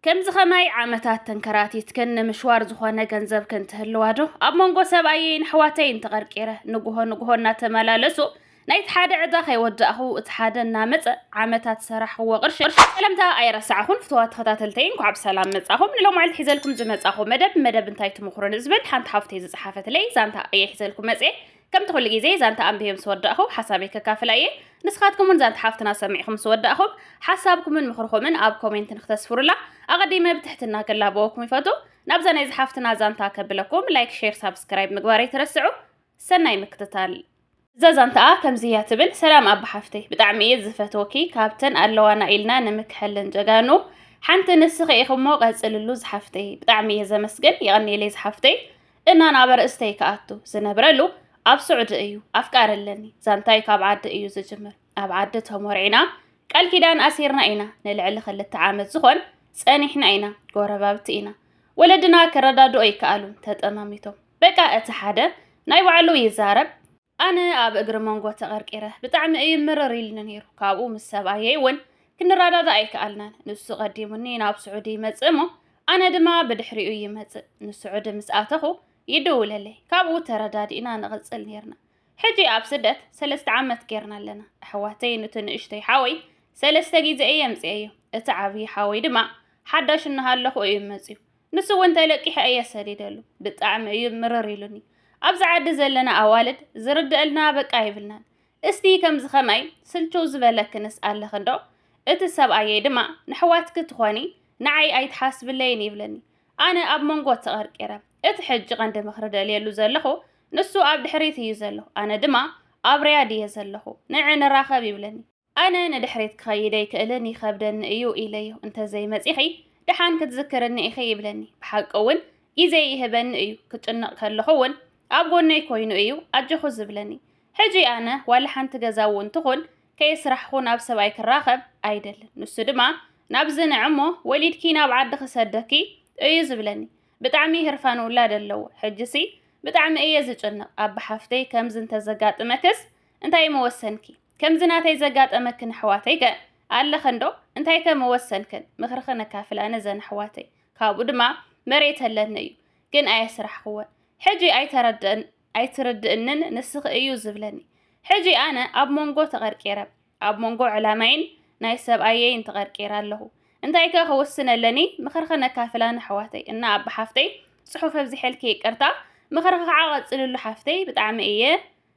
ከምዚ ከማይ ዓመታት ተንከራቲትክን ንምሽዋር ዝኾነ ገንዘብክን ትህልዋ ዶ? ኣብ መንጎ ሰብኣየይን ኣሕዋተይን ተቐርቂረ ንጉሆ ንጉሆ እናተመላለሱ ናይቲ ሓደ ዕዳ ከይወዳእኹ እቲ ሓደ እናመጸ ዓመታት ዝሰራሕኽዎ ቅርሺ ሰለምታ ኣይረሳዕኹን። ፍቱዋት ተኸታተልተይ እንኳዕ ብሰላም መጻኹም። ንሎማዕልቲ ሒዘልኩም ዝመጻኹ መደብ መደብ እንታይ ትምኽሩኒ ዝብል ሓንቲ ሓፍተይ ዝጸሓፈትለይ ዛንታ እየ ሒዘልኩም መጽየ። ከምቲ ኩሉ ግዜ ዛንታ ኣንቢበ ምስ ወዳእኹ ሓሳበይ ከካፍላ እየ። ንስኻትኩም ውን ዛንታ ሓፍትና ሰሚዕኹም ምስ ወዳእኹም ሓሳብኩምን ምኽርኹምን ኣብ ኮሜንት ንክተስፍሩላ ኣቐዲመ ብትሕትና ክላበወኩም ይፈቱ። ናብዛ ናይዛ ሓፍትና ዛንታ ከብለኩም ላይክ ሼር ሳብስክራይብ ምግባር ኣይትረስዑ። ሰናይ ምክትታል። እዛ ዛንታኣ ከምዚ እያ ትብል። ሰላም ኣባ ሓፍተይ ብጣዕሚ እየ ዝፈትወኪ ካብተን ኣለዋና ኢልና ንምክሐለን ጀጋኑ ሓንቲ ንስኺ ኢኺ እሞ ቀፅልሉ ዝሓፍተይ ብጣዕሚ እየ ዘመስግን የቐንየለይ ዝሓፍተይ እና ናብ ኣርእስተይ ክኣቱ ዝነብረሉ ኣብ ሱዑዲ እዩ ኣፍቃሪ ኣለኒ ዛንታይ ካብ ዓዲ እዩ ዝጅምር ኣብ ዓዲ ተሞርዒና ቃል ኪዳን ኣሲርና ኢና ንልዕሊ ክልተ ዓመት ዝኾን ጸኒሕና ኢና ጎረባብቲ ኢና ወለድና ክረዳድኦ ይከኣሉን ተጠማሚቶም በቃ እቲ ሓደ ናይ ባዕሉ ይዛረብ ኣነ ኣብ እግሪ መንጎ ተቐርቂረ ብጣዕሚ እዩ ምርር ኢልኒ ነይሩ። ካብኡ ምስ ሰብኣየይ እውን ክንረዳዳእ ኣይከኣልናን። ንሱ ቀዲሙኒ ናብ ስዑዲ ይመጽእ እሞ ኣነ ድማ ብድሕሪኡ ይመጽእ። ንስዑዲ ምስ ኣተኹ ይድውለለይ፣ ካብኡ ተረዳዲእና ንቕጽል ነይርና። ሕጂ ኣብ ስደት ሰለስተ ዓመት ጌርና ኣለና። ኣሕዋተይ ኑቲ ንእሽተይ ሓወይ ሰለስተ ግዜ እየ ኣምጺኤዮ፣ እቲ ዓብዪ ሓወይ ድማ ሓዳሽ እናሃለኹ እዩ መጺኡ። ንሱ እውን ተለቂሐ እየ ሰዲደሉ ብጣዕሚ እዩ ምርር ኢሉኒ ኣብዚ ዓዲ ዘለና ኣዋልድ ዝርደእልና በቃ ይብልናን እስቲ ከምዚ ከማይ ስልችው ዝበለክንስ ኣለክ እንዶ እቲ ሰብኣየይ ድማ ንሕዋትኪ ትኾኒ ንዓይ ኣይትሓስብለይን ይብለኒ ኣነ ኣብ መንጎ ተቐርቂረ እቲ ሕጂ ቀንዲ ምኽሪ ደልየሉ ዘለኹ ንሱ ኣብ ድሕሪት እዩ ዘሎ ኣነ ድማ ኣብ ርያድ እየ ዘለኹ ንዕ ንራኸብ ይብለኒ ኣነ ንድሕሪት ክኸይድ ኣይክእልን ይኸብደኒ እዩ ኢለዮ እንተዘይመጺኺ ደሓን ክትዝክርኒ ኢኺ ይብለኒ ብሓቂ እውን ግዜ ይህበኒ እዩ ክጭነቕ ከለኹ እውን ኣብ ጎነይ ኮይኑ እዩ ኣጆኹ ዝብለኒ ሕጂ ኣነ ዋላ ሓንቲ ገዛ እውን ትኹን ከየስራሕኹ ናብ ሰብኣይ ክራኸብ ኣይደልን ንሱ ድማ ናብ ዝንዕ እሞ ወሊድኪ ናብ ዓዲ ክሰደኪ እዩ ዝብለኒ ብጣዕሚ ህርፋን ውላድ ኣለዎ ሕጂሲ ብጣዕሚ እየ ዝጭነቕ ኣባ ሓፍተይ ከምዚ እንተዘጋጥመክስ እንታይ ምወሰንኪ ከምዚ ናተይ ዘጋጠመክን ኣሕዋተይ ከ ኣለኸን ዶ እንታይ ከ ምወሰንክን ምኽርኺ ነካፍል ኣነ ዘን ኣሕዋተይ ካብኡ ድማ መሬት ኣለኒ እዩ ግን ኣየስራሕክወን ሕጂ ኣይተረድእን ኣይትርድእንን ንስኺ እዩ ዝብለኒ ሕጂ ኣነ ኣብ መንጎ ተቐርቂረ ኣብ መንጎ ዕላማይን ናይ ሰብኣየይን ተቐርቂረ ኣለኹ እንታይ ከ ክውስን ኣለኒ ምኽርኺ ነካፍላ ንኣሕዋተይ እና ኣባ ሓፍተይ ጽሑፍ ኣብዚሐልኪ ይቅርታ ምኽርኺ ከዓ ቀጽልሉ ሓፍተይ ብጣዕሚ እየ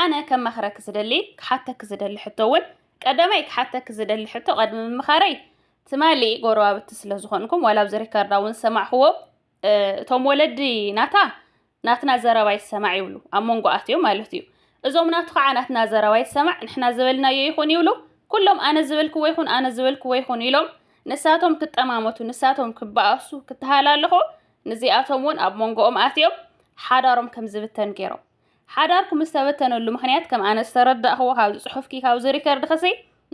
ኣነ ከማኽረኪ ዝደሊ ክሓተኪ ዝደሊ ሕቶ ውን ቀዳማይ ክሓተኪ ዝደሊ ሕቶ ቀድሚ ምምኻረይ ትማሊ ጎረባብቲ ስለ ዝኾንኩም ዋላ ኣብዚ ሪከርዳ ውን ዝሰማዕኽዎ እቶም ወለዲ ናታ ናትና ዘረባ ይሰማዕ ይብሉ ኣብ መንጎ ኣትዮም ማለት እዩ እዞም ናቱ ከዓ ናትና ዘረባ ይሰማዕ ንሕና ዝበልናዮ ይኹን ይብሉ ኩሎም ኣነ ዝበልክዎ ይኹን ኣነ ዝበልክዎ ይኹን ኢሎም ንሳቶም ክጠማመቱ ንሳቶም ክበኣሱ ክተሃላለኹ ንዚኣቶም እውን ኣብ መንጎኦም ኣትዮም ሓዳሮም ከም ዝብተን ገይሮም ሓዳርኩም ዝተበተነሉ ምኽንያት ከም ኣነ ዝተረዳእክዎ ካብዚ ጽሑፍኪ ካብዚ ሪከርድ ክሲ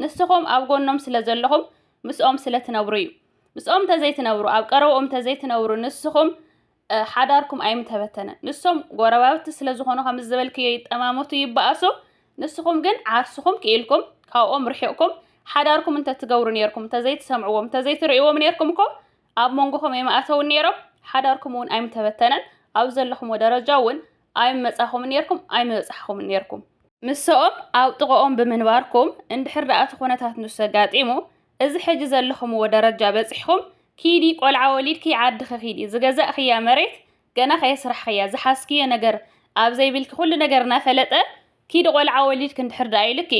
ንስኹም ኣብ ጎኖም ስለ ዘለኹም ምስኦም ስለ ትነብሩ እዩ ምስኦም ተዘይትነብሩ ኣብ ቀረብኦም ተዘይትነብሩ ንስኹም ሓዳርኩም ኣይምተበተነን ንሶም ጎረባብቲ ስለ ዝኾኑ ከም ዝበልክዮ ይጠማመቱ ይበኣሱ ንስኹም ግን ዓርስኹም ክኢልኩም ካብኦም ርሒቕኩም ሓዳርኩም እንተትገብሩ ነርኩም እንተዘይትሰምዕዎም እንተዘይትርእይዎም ነርኩም እኮ ኣብ መንጎኹም ኣይምኣተዉን ነይሮም፣ ሓዳርኩም እውን ኣይምተበተነን፣ ኣብ ዘለኹምዎ ደረጃ እውን ኣይምመጻኹምን ነይርኩም፣ ኣይምበጻሕኹምን ነይርኩም። ምሰኦም ኣብ ጥቐኦም ብምንባርኩም፣ እንድሕር ደኣ እቲ ኩነታት ንሱ ኣጋጢሙ፣ እዚ ሕጂ ዘለኹምዎ ደረጃ በጺሕኩም፣ ኪዲ ቆልዓ ወሊድኪ ዓድኺ ኪዲ፣ ዝገዛእክያ መሬት ገና ከየስራሕኽያ፣ ዝሓዝክዮ ነገር ኣብ ዘይብልኪ ኩሉ ነገር እናፈለጠ ኪዲ ቆልዓ ወሊድኪ እንድሕር ደኣ ኢሉኪ፣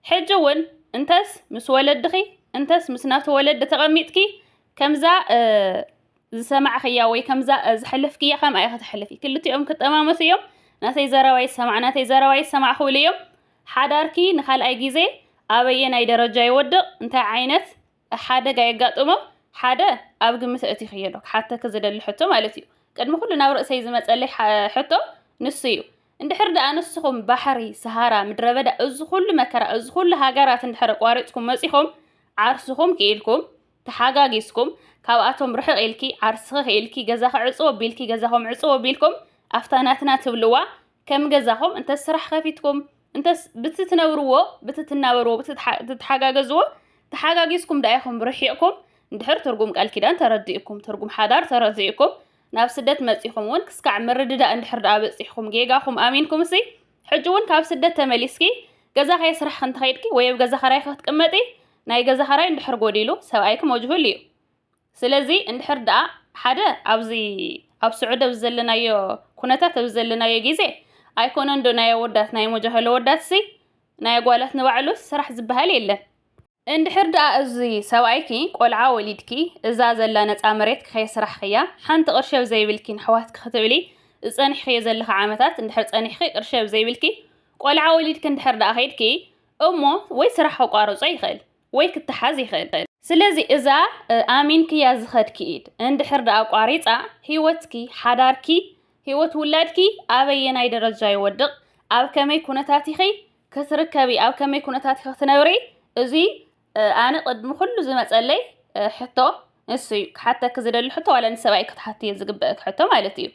ሕጂ እውን እንተስ ምስ ወለድኺ እንተስ ምስ ናቱ ወለዲ ተቐሚጥኪ ከምዛ ዝሰማዕኽያ ወይ ከምዛ ዝሐለፍክያ ከምኣ ኢኺ ተሕልፊ። ክልቲኦም ክጠማመሱ እዮም። ናተይ ዘረባ ይሰማዕ ናተይ ዘረባ ይሰማዕ ክብሉ እዮም። ሓዳርኪ ንካልኣይ ግዜ ኣበየናይ ደረጃ ይወድቕ እንታይ ዓይነት ሓደጋ የጋጥሞም ሓደ ኣብ ግምት ኣእቲኺዮ ዶ ክሓተኪ ዝደሊ ሕቶ ማለት እዩ ቅድሚ ኩሉ ናብ ርእሰይ ዝመጸለይ ሕቶ ንሱ እዩ እንድሕር ደኣ ንስኹም ባሕሪ ሰሃራ ምድረበዳ እዚ ኩሉ መከራ እዚ ኩሉ ሃገራት እንድሕር ኣቋሪጽኩም መጺኹም ዓርስኹም ክኢልኩም ተሓጋጊዝኩም ካብኣቶም ርሕቕ ኢልኪ ዓርስኺ ክኢልኪ ገዛኺ ዕጽው ኣቢልኪ ገዛኹም ዕጽው ኣቢልኩም ኣፍታ ናትና ትብልዋ ከም ገዛኹም እንተ ስራሕ ከፊትኩም እንተስ ብቲ ትነብርዎ ብቲ ትናበርዎ ብቲ ትተሓጋገዝዎ ተሓጋጊዝኩም ደኣ ኢኹም ርሒቕኩም እንድሕር ትርጉም ቃል ኪዳን ተረዲእኩም ትርጉም ሓዳር ተረዲእኩም ናብ ስደት መጺኹም እውን ክስካዕ ምርድዳእ እንድሕር ደኣ በጺሕኩም ጌጋኹም ኣሚንኩም እሲ ሕጂ እውን ካብ ስደት ተመሊስኪ ገዛ ከየ ስራሕ ክንተኸይድኪ ወይ ኣብ ገዛ ኸራይ ክትቅመጢ ናይ ገዛ ኸራይ እንድሕር ጎዲሉ ሰብኣይኪ መጅሁል እዩ ስለዚ እንድሕር ደኣ ሓደ ኣብዚ ኣብ ስዑዲ ኣብዚ ዘለናዮ ኩነታት ኣብዚ ዘለናዮ ግዜ ኣይኮነን ዶ ናይ ኣወዳት ናይ ሞጃህሎ ወዳትሲ ናይ ኣጓላት ንባዕሉስ ስራሕ ዝበሃል የለን። እንድሕር ደኣ እዚ ሰብኣይኪ ቆልዓ ወሊድኪ እዛ ዘላ ነጻ መሬት ከየስራሕኽያ ሓንቲ ቅርሺ ኣብ ዘይብልኪ ንኣሕዋትኪ ክትብሊ ዝጸኒሕኽዮ ዘለኺ ዓመታት እንድሕር ጸኒሕኺ ቅርሺ ኣብ ዘይብልኪ ቆልዓ ወሊድኪ እንድሕር ደኣ ከይድኪ እሞ ወይ ስራሕ ከቋርጾ ይኽእል ወይ ክተሓዝ ይኽእል። ስለዚ እዛ ኣሚንክያ ዝኸድኪ ኢድ እንድሕር ደኣ ኣቋሪጻ፣ ህይወትኪ፣ ሓዳርኪ፣ ህይወት ውላድኪ ኣበየናይ ደረጃ ይወድቕ፣ ኣብ ከመይ ኩነታት ኢኺ ክትርከቢ፣ ኣብ ከመይ ኩነታት ኢኺ ክትነብሪ፣ እዚ ኣነ ቅድሚ ኩሉ ዝመጸለይ ሕቶ ንሱ እዩ ክሓተኪ ዝደሊ ሕቶ ዋላ ንሰብኣይ ክትሓትዮ ዝግበእኪ ሕቶ ማለት እዩ።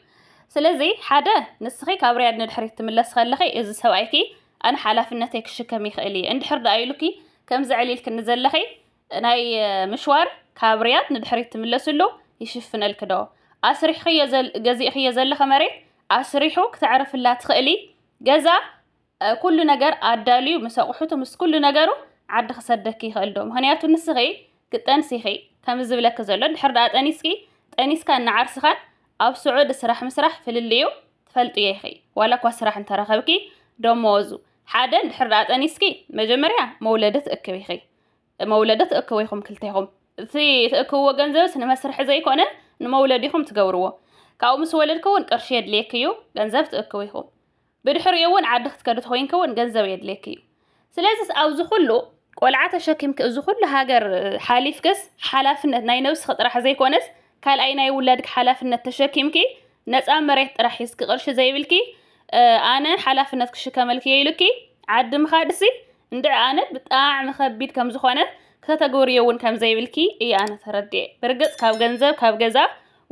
ስለዚ ሓደ ንስኺ ካብ ሪያድ ንድሕሪት ትምለሲ ከለኺ እዚ ሰብኣይኪ ኣነ ሓላፍነተይ ክሽከም ይኽእል እየ እንድሕር ደኣ ኢሉኪ ከምዚ ዕሊልኪ ንዘለኺ ናይ ምሽዋር ካብ ሪያድ ንድሕሪት ትምለስሉ ይሽፍነልኪ ዶ? ኣስሪሕኽዮ ገዚእኽዮ ዘለኺ መሬት ኣስሪሑ ክተዕርፍላ ትኽእሊ ገዛ ኩሉ ነገር ኣዳልዩ ምስ ኣቑሑቱ ምስ ኩሉ ነገሩ ዓዲ ክሰደኪ ይኽእል ዶ? ምኽንያቱ ንስኺ ክትጠንሲ ኢኺ ከምዚ ዝብለኪ ዘሎ እንድሕር ደኣ ጠኒስኪ ጠኒስካን ንዓርስኻን ኣብ ስዑዲ ስራሕ ምስራሕ ፍልልዩ ትፈልጥዮ ኢኺ ዋላ እኳ ስራሕ እንተረኸብኪ ደመወዙ ሓደ እንድሕር ደኣ ጠኒስኪ መጀመርያ መውለዲ ትእክቢ ኢኺ መውለዲ ትእክቡ ኢኹም ክልቴኹም እቲ ትእክብዎ ገንዘብስ ንመስርሒ ዘይኮነ ንመውለዲኹም ትገብርዎ ካብኡ ምስ ወለድኪ እውን ቅርሺ የድልየኪ እዩ ገንዘብ ትእክቡ ኢኹም ብድሕሪኡ እውን ዓዲ ክትከዲ ተኮይንኪ እውን ገንዘብ የድልየኪ እዩ ስለዚስ ኣብዚ ኩሉ ቆልዓ ተሸኪምኪ እዚ ኩሉ ሃገር ሓሊፍክስ ሓላፍነት ናይ ነብስኪ ጥራሕ ዘይኮነስ ካልኣይ ናይ ውላድኪ ሓላፍነት ተሸኪምኪ ነፃ መሬት ጥራሕ ሒዝኪ ቅርሺ ዘይብልኪ ኣነ ሓላፍነት ክሽከመልኪ እየ ኢሉኪ ዓዲ ምኻድሲ እንድዕ ኣነ ብጣዕሚ ከቢድ ከም ዝኾነ ከተግብርዮ እውን ከም ዘይብልኪ እየ ኣነ ተረድየ ብርግፅ ካብ ገንዘብ ካብ ገዛ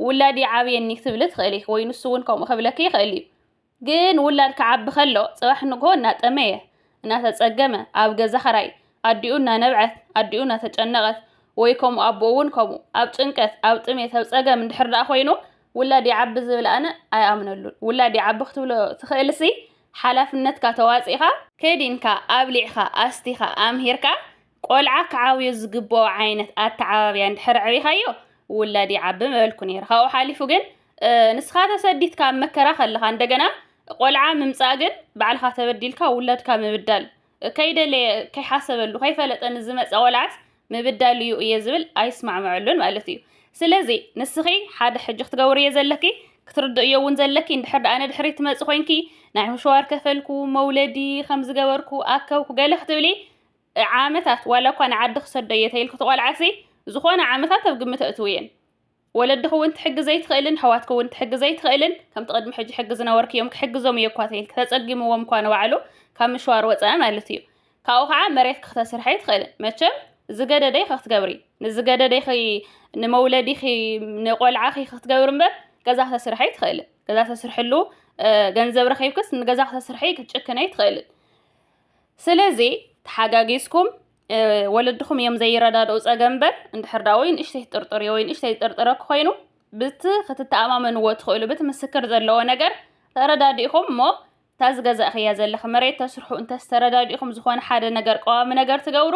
ውላድ ይዓብየኒ ክትብሊ ትኽእል ኢኺ ወይ ንሱ እውን ከምኡ ክብለኪ ይኽእል እዩ ግን ውላድ ክዓቢ ከሎ ጽባሕ ንግሆ እናጠመየ፣ እናተጸገመ፣ ኣብ ገዛ ኽራይ፣ ኣዲኡ እናነብዐት፣ ኣዲኡ እናተጨነቐት፣ ወይ ከምኡ ኣቦኡ እውን ከምኡ፣ ኣብ ጭንቀት፣ ኣብ ጥሜት፣ ኣብ ጸገም እንድሕር ደኣ ኮይኑ ውላድ ይዓቢ ዝብል ኣነ ኣይኣምነሉን። ውላድ ይዓቢ ክትብሎ ትኽእልሲ ሓላፍነትካ ተዋጺእካ፣ ከዲንካ፣ ኣብሊዕካ፣ ኣስቲኻ፣ ኣምሂርካ፣ ቆልዓ ክዓብዮ ዝግብኦ ዓይነት ኣተዓባብያ እንድሕር ኣዕቢኻዮ ውላድ ይዓቢ ምበልኩ ነይረ ካብኡ ሓሊፉ ግን ንስኻ ተሰዲትካ ኣብ መከራ ከለኻ እንደገና ቆልዓ ምምፃእ ግን ባዕልኻ ተበዲልካ ውላድካ ምብዳል ከይደለየ ከይሓሰበሉ ከይፈለጠ ንዝመፀ ቆልዓስ ምብዳል እዩ እየ ዝብል ኣይስማዕምዐሉን ማለት እዩ ስለዚ ንስኺ ሓደ ሕጂ ክትገብርዮ ዘለኪ ክትርድእዮ እውን ዘለኪ እንድሕር ደኣ ንድሕሪ ትመፅ ኮንኪ ናይ ምሸዋር ከፈልኩ መውለዲ ከም ዝገበርኩ ኣከብኩ ገለ ክትብሊ ዓመታት ዋላ እኳ ንዓዲ ክሰዶ እየ ተይልኪ ትቆልዓሲ ዝኾነ ዓመታት ኣብ ግምት ኣእትውየን። ወለድኺ እውን ትሕግዝ ዘይትኽእልን ኣሕዋትኪ እውን ትሕግዝ ዘይትኽእልን ከምቲ ቅድሚ ሕጂ ሕጊ ዝነበርክዮም ክሕግዞም እየ እኳ ተይልኪ ተጸጊምዎም እኳ ንባዕሉ ካብ ምሽዋር ወጸኣ ማለት እዩ። ካብኡ ከዓ መሬትኪ ክተስርሒ ኣይትኽእልን መቸም ዝገደደይኺ ክትገብሪ ንዝገደደይኺ ንመውለዲኺ ንቆልዓኺ ክትገብሪ እምበር ገዛ ክተስርሒ ኣይትኽእልን። ገዛ ተስርሕሉ ገንዘብ ረኺብክስ ንገዛ ክተስርሒ ክትጭክነይ ትኽእልን። ስለዚ ተሓጋጊዝኩም ወለድኹም እዮም ዘይረዳድኡ ጸገም እምበር እንድሕር ዳ ወይ ንእሽተይ ጥርጥር ወይ ንእሽተይ ጥርጥረ ክኮይኑ ብቲ ክትተኣማመንዎ ትኽእሉ ብቲ ምስክር ዘለዎ ነገር ተረዳዲእኹም እሞ እታ ዝገዛእኽያ ዘለኺ መሬት ተስርሑ እንተዝተረዳዲእኹም ዝኾነ ሓደ ነገር ቀዋሚ ነገር ትገብሩ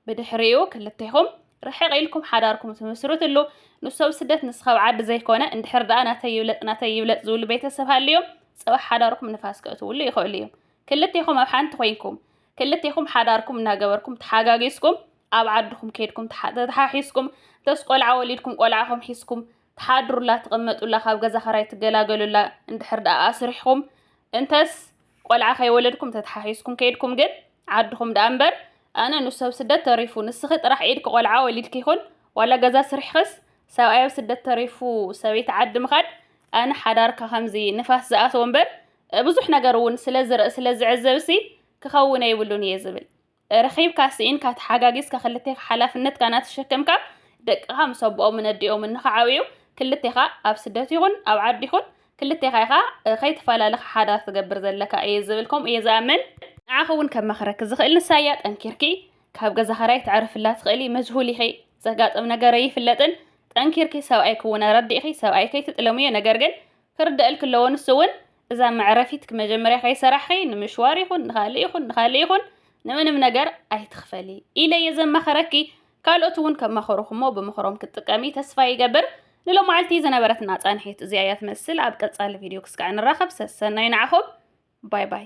ብድሕሪኡ ክልቴኹም ርሕቕ ኢልኩም ሓዳርኩም ትምስርትሉ ንሱ ኣብ ስደት ንስኻ ኣብ ዓዲ ዘይኮነ እንድሕር ደኣ ናተይ ይብለጥ ናተይ ይብለጥ ዝብሉ ቤተሰብ ሃልዮም ጽባሕ ሓዳርኩም ንፋስ ከእትውሉ ይኽእሉ እዮም ክልቴኹም ኣብ ሓንቲ ኮይንኩም ክልቴኹም ሓዳርኩም እናገበርኩም ተሓጋጊዝኩም ኣብ ዓድኹም ከይድኩም ተተሓሒዝኩም እንተስ ቆልዓ ወሊድኩም ቆልዓኹም ሒዝኩም ትሓድሩላ ትቕመጡላ ካብ ገዛ ኸራይ ትገላገሉላ እንድሕር ደኣ ኣስሪሕኹም እንተስ ቆልዓ ከይወለድኩም ተተሓሒዝኩም ከይድኩም ግን ዓድኹም ደኣ እምበር ኣነ ንሰብ ስደት ተሪፉ ንስኺ ጥራሕ ኢድኪ ቆልዓ ወሊድኪ ይኹን ዋላ ገዛ ስርሕክስ ሰብኣይ ኣብ ስደት ተሪፉ ሰበይቲ ዓዲ ምኻድ ኣነ ሓዳርካ ከምዚ ንፋስ ዝኣተዎ እምበር ብዙሕ ነገር እውን ስለ ዝርኢ ስለ ዝዕዘብሲ ክኸውን ኣይብሉን እየ ዝብል። ረኺብካ ስኢንካ ተሓጋጊዝካ ክልቴኻ ሓላፍነትካ እናተሸከምካ ደቅኻ ምስ ኣቦኦምን ኣዲኦምን ንኽዓብዩ ክልቴኻ ኣብ ስደት ይኹን ኣብ ዓዲ ይኹን ክልቴኻ ኢኻ ከይተፈላለኻ ሓዳር ትገብር ዘለካ እየ ዝብል ከምኡ እየ ዝኣምን ንዓኺ እውን ከማኽረኪ ዝኽእል ንሳያ ጠንኪርኪ ካብ ገዛ ኸራይ ትዕርፍላ ትኽእሊ መጅሁል ኢኺ ዘጋጥም ነገር ኣይፍለጥን ጠንኪርኪ ሰብኣይ ክውን ኣረዲእኺ ሰብኣይ ከይትጥለምዮ ነገር ግን ክርደኣልኪ ኣለዎ ንሱ እውን እዛ መዕረፊት መጀመርያ ከይሰራሕኺ ንምሽዋር ይኹን ንካልእ ይኹን ንካልእ ይኹን ንምንም ነገር ኣይትኽፈሊ ኢለ እየ ዘማኸረኪ ካልኦት እውን ከማኸሩኹሞ ብምኽሮም ክትጥቀሚ ተስፋ ይገብር ንሎማዓልቲ ዝነበረትና ፃንሒት እዚኣ እያ ትመስል ኣብ ቀፃሊ ቪድዮ ክስካዕ ንራኸብ ሰሰናይ ንዓኹም ባይ ባይ